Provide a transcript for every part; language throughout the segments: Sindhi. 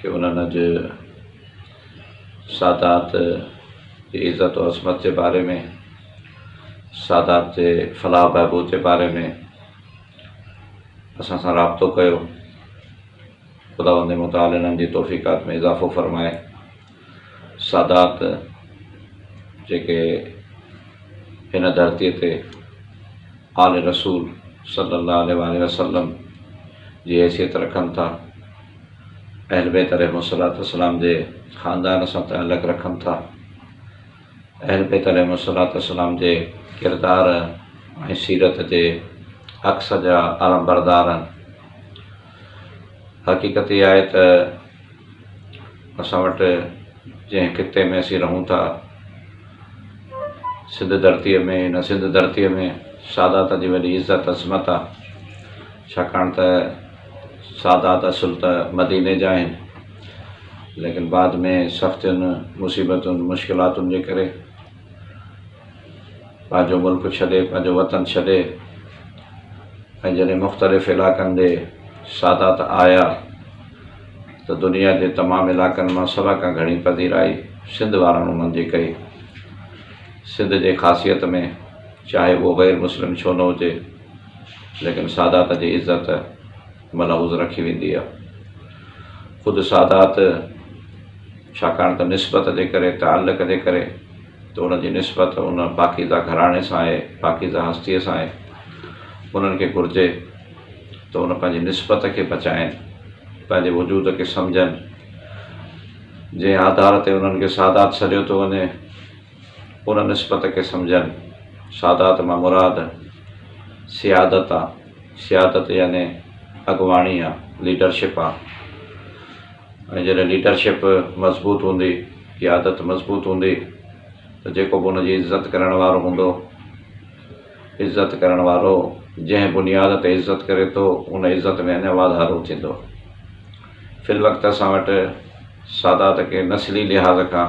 کي انهن جي سادات جي عزت و عظمت جي باري ۾ سادات جي فلاح و بهبود جي باري ۾ اسان سان رابطو ڪيو خداوند متعال انهن جي توفيقات ۾ اضافو فرمائي سادات جيڪي هن ڌرتيء تي آل رسول صلي الله عليه وآله وسلم جي حيثيت رکن ٿا، اهل بيت عليهم الصلوة والسلام جي خاندان سان تعلق رکن ٿا، اهل بيت عليهم الصلوة والسلام جي ڪردار ۽ سيرت جي عڪس جا علمبردار آهن. حقيقت اها آهي ته اسان وٽ جنهن خطي ۾ اسين رهون ٿا، سنڌ ڌرتيء ۾ هن سنڌ ڌرتيء ۾ سادات جي وڏي عزت عظمت آهي، ڇاڪاڻ ته سادات اصل ته مديني جا آهن، ليڪن بعد ۾ سختين، مصيبتن، مشڪلاتن جي ڪري، پنهنجو ملڪ ڇڏي پنهنجو وطن ڇڏي ۽ جڏهن مختلف علائقن ڏي سادات آيا ته دنيا جي تمام علائقن مان سڀ کان گهڻي پذيرائي سنڌ وارن انهن جي ڪئي سنڌ جي خاصيت ۾ چاهي اهو غير مسلم ڇو نه هجي ليڪن سادات جي عزت ملحوظ رکي ويندي آهي. خود سادات ڇاڪاڻ ته نسبت جي ڪري، تعلق جي ڪري ته ان جي نسبت ان پاڪيزه گهراڻي سان آهي، پاڪيزه هستيء سان آهي، انهن کي گهرجي ته ان پنهنجي نسبت کي بچائين، پنهنجي وجود کي سمجهن، جنهن آڌار تي انهن کي سادات سڏيو ٿو وڃي. ان نسبت کي سمجهن. سادات مان مراد سيادت آ. سيادت يعني اڳواڻي آ، ليڊرشپ آ. ۽ جڏهن ليڊرشپ مضبوط هوندي، قيادت مضبوط هوندي ته جيڪو به ان جي عزت ڪرڻ وارو هوندو، عزت ڪرڻ وارو جنهن بنياد تي عزت ڪري ٿو، ان عزت ۾ اڃا واڌارو ٿيندو. في الوقت اسان وٽ سادات کي نسلي لحاظ کان.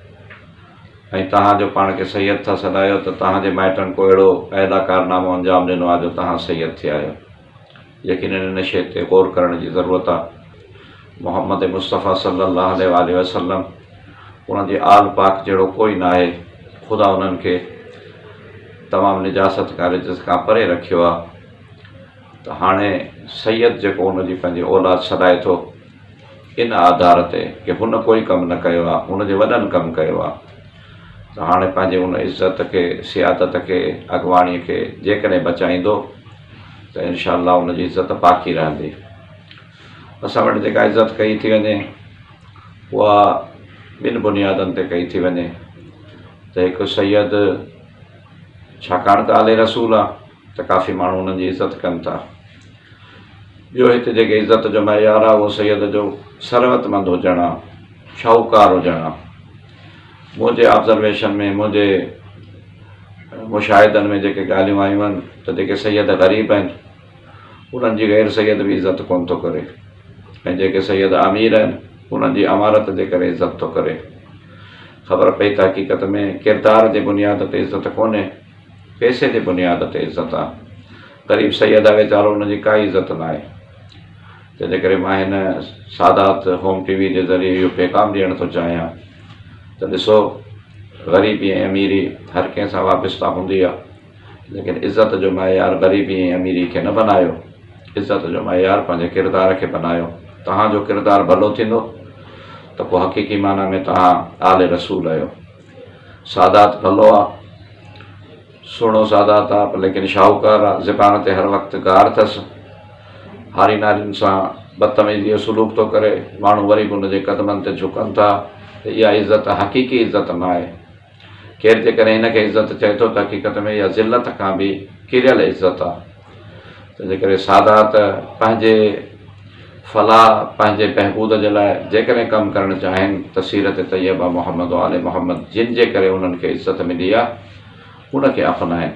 ۽ توهان جو پاڻ کي سيد ٿا سڏايو ته توهان جي مائٽن ڪو اهڙو اعليٰ ڪارنامو انجام ڏنو آهي جو توهان سيد ٿي آهيو. يقيناً ان شيء تي غور ڪرڻ جي ضرورت آهي. محمد مصطفيٰ صلّي اللّٰه عليه واٰله وسلّم انهن جي آل پاڪ جهڙو ڪوئي ناهي. خدا انهن کي تمام نجاست کان رجس کان پري رکيو آهي ته هاڻي سيد جيڪو ان جي پنهنجي اولاد سڏائي ٿو، ان آڌار تي ڪي هن ڪوئي ڪم نه ڪيو آ هن جي وڏن ڪم ڪيو آ ته هاڻي پنهنجي ان عزت کي سيادت کي اڳواڻي کي جيڪڏهن بچائيندو ته انشاء الله ان جي عزت باقي رهندي اسان وٽ جيڪا عزت ڪئي ٿي وڃي اها ٻن بنيادن تي ڪئي ٿي وڃي ته هڪ سيد ڇاڪاڻ ته آلي رسول آ ته ڪافي ماڻهو انهن جي عزت ڪن ٿا. ٻيو هت جيڪي عزت جو معيار آ اهو سيد جو ثروت مند هجڻ آ، شاهوڪار هجڻ آ. منهنجي آبزرويشن ۾ منهنجي مشاهدن ۾ جيڪي ڳالهيون آيون آهن ته جيڪي سيد غريب آهن انهن جي غير سيد به عزت ڪونه ٿو ڪري ۽ جيڪي سيد امير آهن انهن جي امارت جي ڪري عزت ٿو ڪري. خبر پئي ته حقيقت ۾ ڪردار جي بنياد تي عزت ڪونهي. پئسي جي بنياد تي عزت آ. غريب سيد آ ويچارو ان جي ڪائي عزت ناهي. تنهن جي ڪري مان هن سادات هوم ٽي وي جي ذريعي اهو پيغام ڏيڻ ٿو چاهيان ته ڏسو غريبي ۽ اميري هر ڪنهن سان وابسته هوندي آ ليڪن عزت جو معيار غريبي ۽ اميري کي نه بنايو عزت جو معيار پنهنجي ڪردار کي بنايو توهان جو ڪردار ڀلو ٿيندو ته پوء حقيقي معنيٰ ۾ توهان آل رسول اهيو. سادات ڀلو آ. سهڻو سادات آ پر ليڪن شاهوڪار آ. زبان تي هر وقت گار ٿس. هاري نارين سان بدتميزيء جو سلوڪ ٿو ڪري. ماڻهو وري به ان جي قدمن تي جهڪن ٿا ته اها عزت حقيقي عزت ناهي. ڪير جيڪڏهن ان کي عزت چئي ٿو ته حقيقت ۾ اها ذلت کان به ڪريل عزت آ. تنهنجي ڪري سادات پنهنجي فلاح، پنهنجي بهبود جي لاء جيڪڏهن ڪم ڪرڻ چاهين ته سيرت طيبه محمد و آل محمد جن جي ڪري انهن کي عزت ملي آهي، ان کي اپنائين.